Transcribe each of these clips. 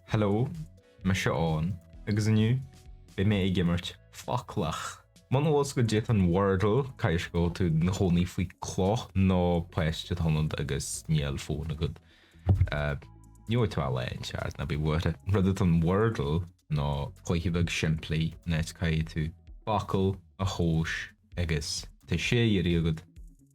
Hello, mise Eoghan, agus inniu beidh mé ag imirt foclach. Muna bhfuil 's agat caidé atá in Wordle, caithfidh go bhfuil tú ina chónaí faoi cloch nó páiste atá ionat agus níl fóin agat. Ní bhfuair tú a leithéid, Charles, ná bí buartha. Rud atá in Wordle ná cluiche beag simplí an áit caithfidh tú focal a thomhas agus tá sé iarraidh agat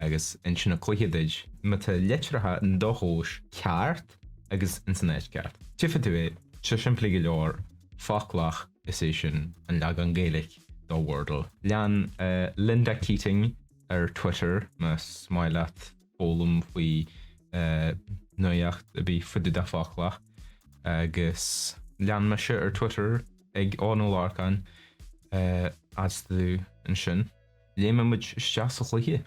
agus insíonn an cluiche duit má tá litreacha in do thomhas ceart agus ins an áit ceart. Tuigfidh tú é, tá sé simplí go leor, Foclach, is é sin an leagan Gaeilge do Wordle. Lean Linda Keating ar Twitter más maith leat. foghlaim faoi nuaíocht ar bith fá dtaobh de foclach agus lean mise ar Twitter ag Eoghan Ó Lorcáin is tú ansin. Léimfidh muid isteach sa chluiche.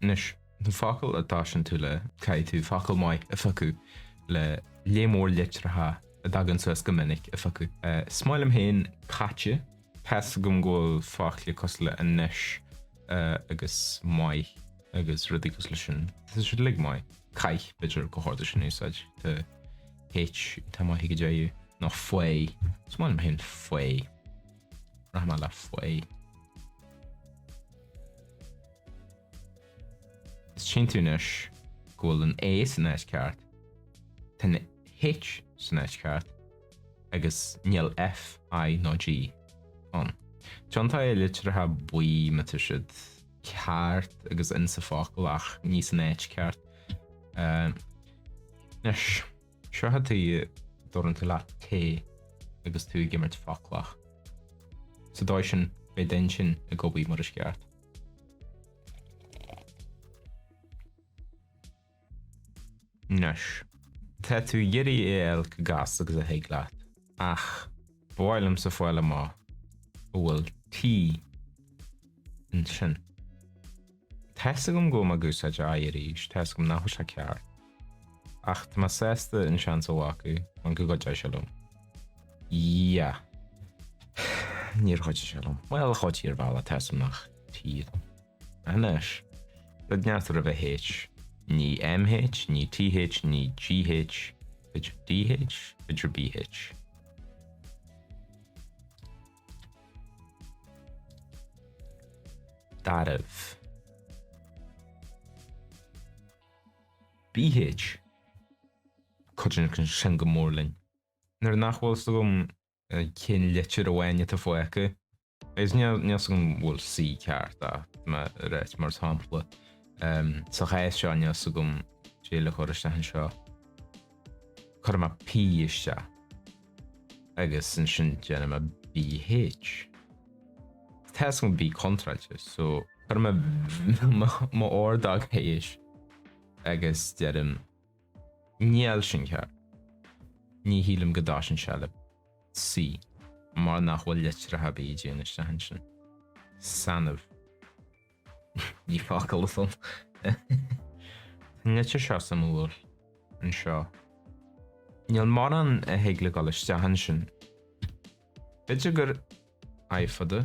Anois, na focail a dtosaíonn tú le, caithfidh tú focal maith a phiocadh le lear mór litreacha a dtagann suas go minic a phiocadh. Is maith liom féin 'caite'. Tá's agam go bhfuil focla cosúil le anois agus maith agus rudaí cosúil le sin. Tá siad uilig maith. Caith, b'fhéidir, go hard leis an úsáid. Tá H iontach maith go deo. Nó faigh. Is maith liom féin faigh. Rachaidh mé le faigh. Tchíonn tú anois go bhfuil an A san áit ceart. Tá an H san áit ceart. agus níl F, I nó G ann. Tiontóidh litreacha buí má tá siad ceart agus insa focal ach ní san áit ceart. Anois, tá sé tábhachtach go dtabharann tú leat tae agus tú ag imirt foclach. Sa dóigh sin, beidh d'intinn ag obair mar is ceart. Anois, tá tú ag iarraidh é a fháil chomh gasta agus a thig leat, ach ba mhaith liomsa fáil amach a bhfuil T ansin. Tá's agam go bhfuil mé ag úsáid an I arís, tá's agam nach bhfuil sé ceart, ach tá mé sásta an seans a ghlacadh mar go gcuideoidh sé liom. Yeah. Níor chuidigh sé liom. Bhuel, chuidigh ar bhealach, tá's agam nach T dom. Anois, thig neart roimh an H, ní MH, ní TH, ní GH, b'fhéidir DH, b'fhéidir BH. Darbh. BH. Cuidíonn sin go mór linn. Nuair nach bhfuil 's agam cinn litir amháin atá fágtha, agus níl fhios agam an bhfuil C ceart, ach mar a right, mar shampla, sa chás seo níl fhios agam caidé le cur isteach anseo, cuirfidh mé P isteach, agus ansin déanfaidh mé BH. Tá fhios agam B contráilte, so cuirfidh mé m'ordóg thíos, agus deirim Níl sin ceart. Ní shílim go dtoiseann sé le C mar nach bhfuil litreacha ar bith a dtéann isteach ansin. Sanbh. Ní focal é sin. Tá an litir seo suimiúil anseo. Níl mórán a thig le dul isteach ansin. B'fhéidir gur I fada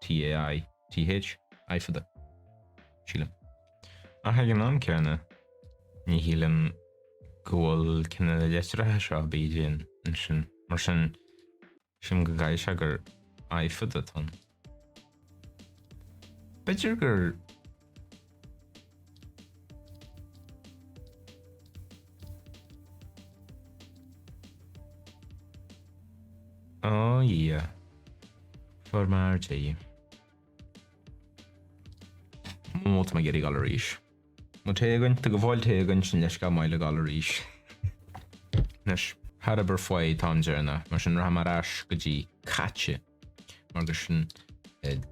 TA I, TH, I fada, sílim. Ach ag an am céanna, ní shílim go bhfuil cionn de na litreacha seo bídeach ansin, mar sin, sílim go gcaithfidh sé gur I fada atá ann. B'fhéidir gur. Oh yeah. Fuair muid é. Má tá mé ag iarraidh gabháil arís. Má té againn, tá go bhfuil té againn sin leis go maith le gabháil arís. Anois, char oibir faoi an t-am deireanach, mar sin rachaidh mé ar ais go dtí caite. Mar gur sin an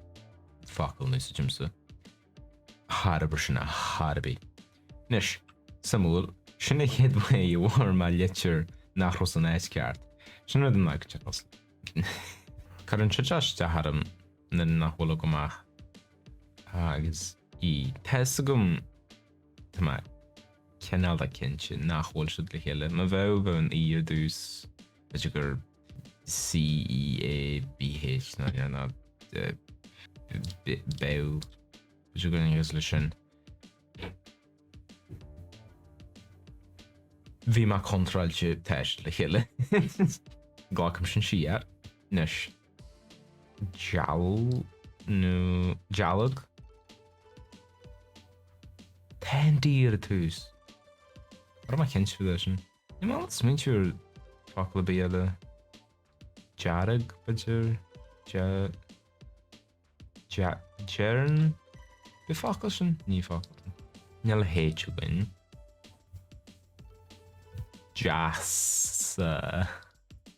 focal a n-úsáidimse. Char oibir sin ar chor ar bith. Anois, suimiúil, sin an chéad am a bhfuair mé litir nach raibh san áit ceart. Sin rud a n-aigtear tusa. Cuireann sé isteach orm nuair nach bhfuil agam ach A agus E. Tá fhios agam, tá mé cineálta cinnte, nach bhfuil siad le chéile. Má bheadh, bheadh an E ar dtús, b'fhéidir gur CEABH ná dea ná beadh. B'fhéidir gur agus leis sin bhí mé contráilte tá siad le chéile. Glacaim sin siar. Anois deal nó dealg? Tá an D ar dtús. Ní raibh mé cinnte faoi sin. Níl mé ábalta smaointiú ar fhocal ar bith eile. Dearg, b'fhéidir? Dea. Deireann? B'é focal sin? Ní focal. Níl H againn. Deas.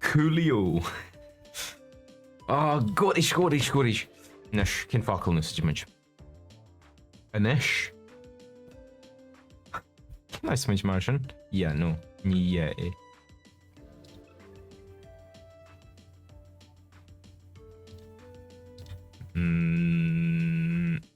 Coolio! Ah, go deas, go deas, go deas! Anois, cén focal a n-úsáidfidh muid? Anois? Cén fhás muid mar sin? Yeah, no, ní yeah é. Mm.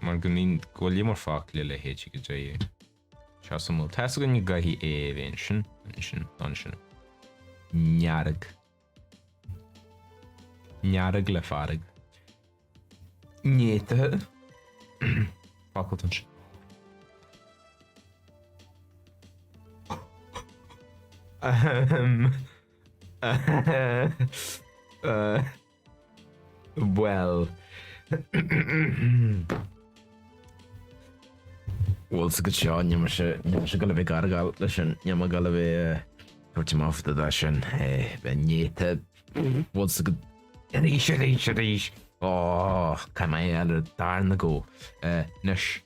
mar go mbíonn go leor focla le H go dtéigh sé suimiúil tá a fhios againn go gcaithfidh E a bheith ansin, ansin, ansin. ndearg, ndearg le fearg, néata, focal atá ansin. Ahem. Uh, Bhuel, bhfuil a fhios agat seo níl mise ag gabháil a bheith ag argáil leis sin, níl mé ag gabháil a bheith a thabhairt amach do do sin, bheith néata, bhfuil a fhios agat, arís, arís, arís, ó, cá mbeidh eile, dar ndóigh. Anois.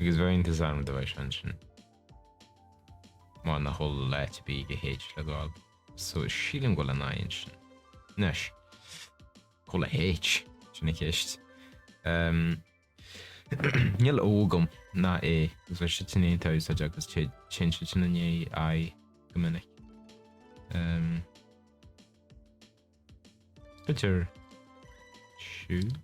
Agus bheadh iontas orm dá mbeadh sé ansin. Mar nach bhfuil áit ar bith ag an H le gabháil. So sílim go bhfuil an I ansin. Anois, cá bhfuil an H? Sin an cheist. Umm, níl a fhios agam, ná é, agus bheadh sittin in aon t-úsáid agus téid sin sittin i ndiaidh I go minic. Umm. B'fhéidir siúd?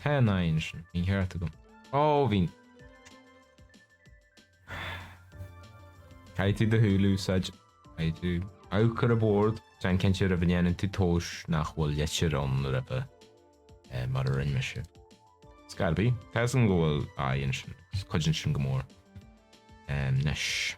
Tá an I ansin, bhí an ceart agam. Ó, bhí. Caithfidh tú do shúile a úsáid, caithfidh tú amharc ar an bhord. Déan cinnte roimh a ndéanann tú tomhas nach bhfuil litir ann roimhe, mar a rinne mise. It's gotta be. Tá a fhios agam go bhfuil I ansin, cuidíonn sin go mór. Anois.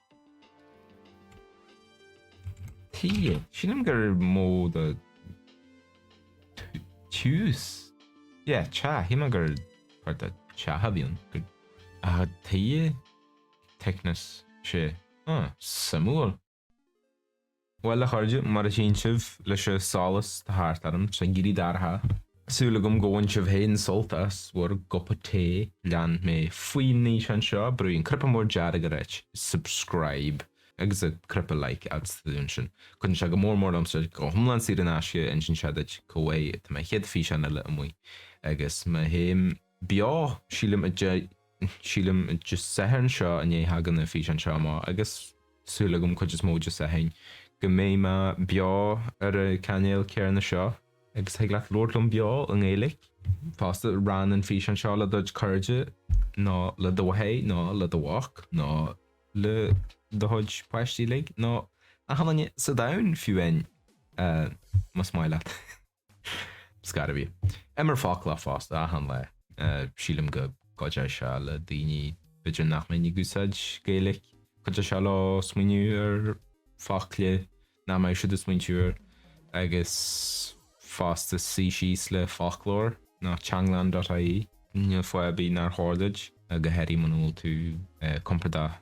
Tighe. Sílim gur modh de tiús. Yeah, tea. Shíl mé gur part de teach a bhí ann. Ah, tighe. Thickness. Sé suimiúil. Bhuel, a chairde, mar a chíonn sibh, leis an solas atá thart orm, tá sé ag éirí dorcha. Súil agam go bhain sibh féin sult as bhur gcupa tae. Lean mé faoin fhíseán seo, brúigh an cnaipe mór dearg ag ráit subscribe agus an cnaipe like fhad is atá tú ansin. Cuidíonn sé go mór mór liom, 's tá sé go hiomlán saor in aisce, insíonn sé duit chomh luath is tá mo chéad fhíseán eile amuigh agus má théim, beo, sílim, sílim, Dé Sathairn seo inniu, thagann an físeán seo amach agus súil agam cuid is mó Dé Sathairn go mbeidh mé beo ar an cainéal céanna seo agus thig leat labhairt liom beo i nGaeilge fosta. Rann an físeán seo le do chairde nó le do mháthair nó le do mhac nó le do chuid páistí uilig nó achan nduine sa domhan fiú fhéin más maith leat. Scair a bhí. Imir Foclach fosta, achan lá. Sílim go gcuideoidh sé le daoine, b'fhéidir nach mbíonn ag úsáid Gaeilic, cuideoidh sé leo smaoineamh ar focla nach mbeadh siad ag smaointiú air agus fosta suí síos le foclóir nó teanglann.ie, níl fáth ar bith nár chóir duit, go háirithe muna bhfuil tú compordach.